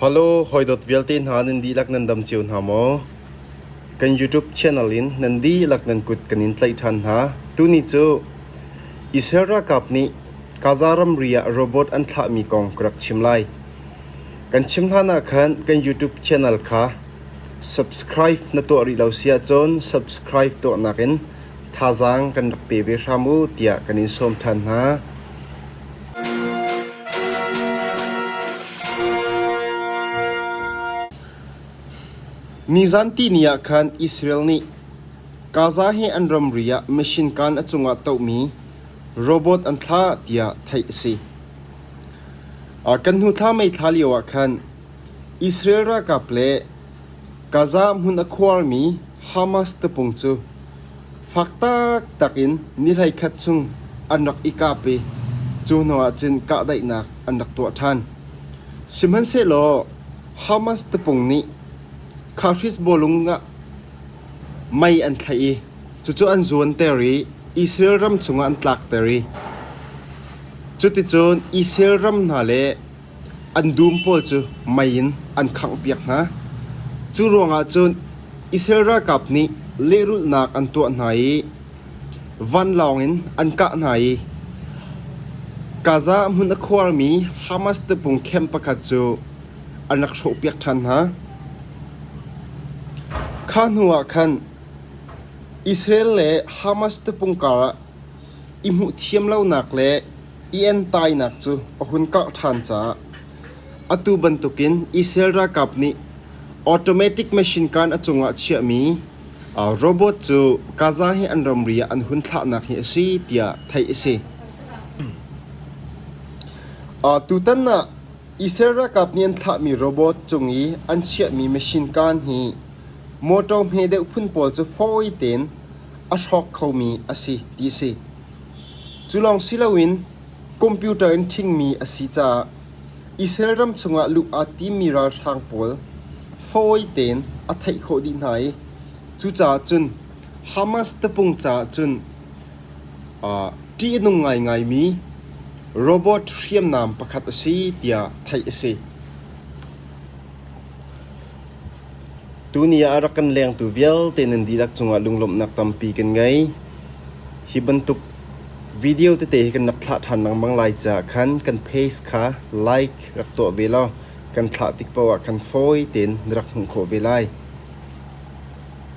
Halo, hawidawt vialte hna nan dihlak nan dam cio hna maw? Kan YouTube channel in nan dihlak nan kut kan in tlaih ṭhan hna. Tuni cu Israel ralkap nih Gaza ramri ah robot an thlahmi kong ka rak chim lai. Kan chim hlanah khan kan YouTube channel kha subscribe na tuah rih lo si ahcun subscribe tuahnak in thazaang kan rak pe ve hram u tiah kan in sawm ṭhan hna. Nizanti ni ah khan Israel nih Gaza hi an ramri ah mission kaan a cungah tohmi robot an thlah tiah theih a si. Kan hnu thla mei thla lioah khan Israel ralkap le Gaza hmun a khuarmi Hamas tapung cu fak taktak in ni hleikhat chung an rak i kap i cu hnuah cun kahdaihnak an rak tuah ṭhan. Sihmanhsehlaw Hamas tapung nih Kharhish bawlung ah mei an thlaih i cucu an zuanter i Israel ram chungah an tlakter i cuticun Israel ram hna le An dum pawl cu mei in an khanghpiak hna. Cu ruangah cun Israel ralkap nih lehrulhnak an tuah hna i vanlawng in an kah hna i Gaza hmun a khuarmi Hamas tapung camp pakhat cu an rak hrawhpiak ṭhan hna. Kha hnuah khan Israel le Hamas tapung karah i hmuh thiam lonak le Ian tainak cu a hun karh ṭhan caah atu bantukin Israel ralkap nih automatic machine gun a cungah a chiahmi robot cu Gaza hi an ramri ah an hun thlahnak hi a si tiah theih a si. Tutan ah Israel ralkap nih an thlahmi robot cung i an chiahmi machine gun hi motor hme deuh phun pawl cu fawi tein a hrawk khomi a si ti a si. Cu lawng si loin computer in thingmi a si caah Israel ram chungah luh aa timmi ralhrang pawl fawi tein a theih khawh dih hna i cucaah cun Hamas tapung caah cun ṭihnung ngaingaimi robot hriamnam pakhat a si tiah theih a si. Tuni ah a rak kan lengtu vialte nan dihlak cungah lunglawmhnak tampi kan ngei. Hi bantuk video tete hi kan rak thlah ṭhan lengmang lai caah khan kan page kha like rak tuah ve law kan thlah tik paoh ah khan fawi tein na rak hmuh khawh ve lai.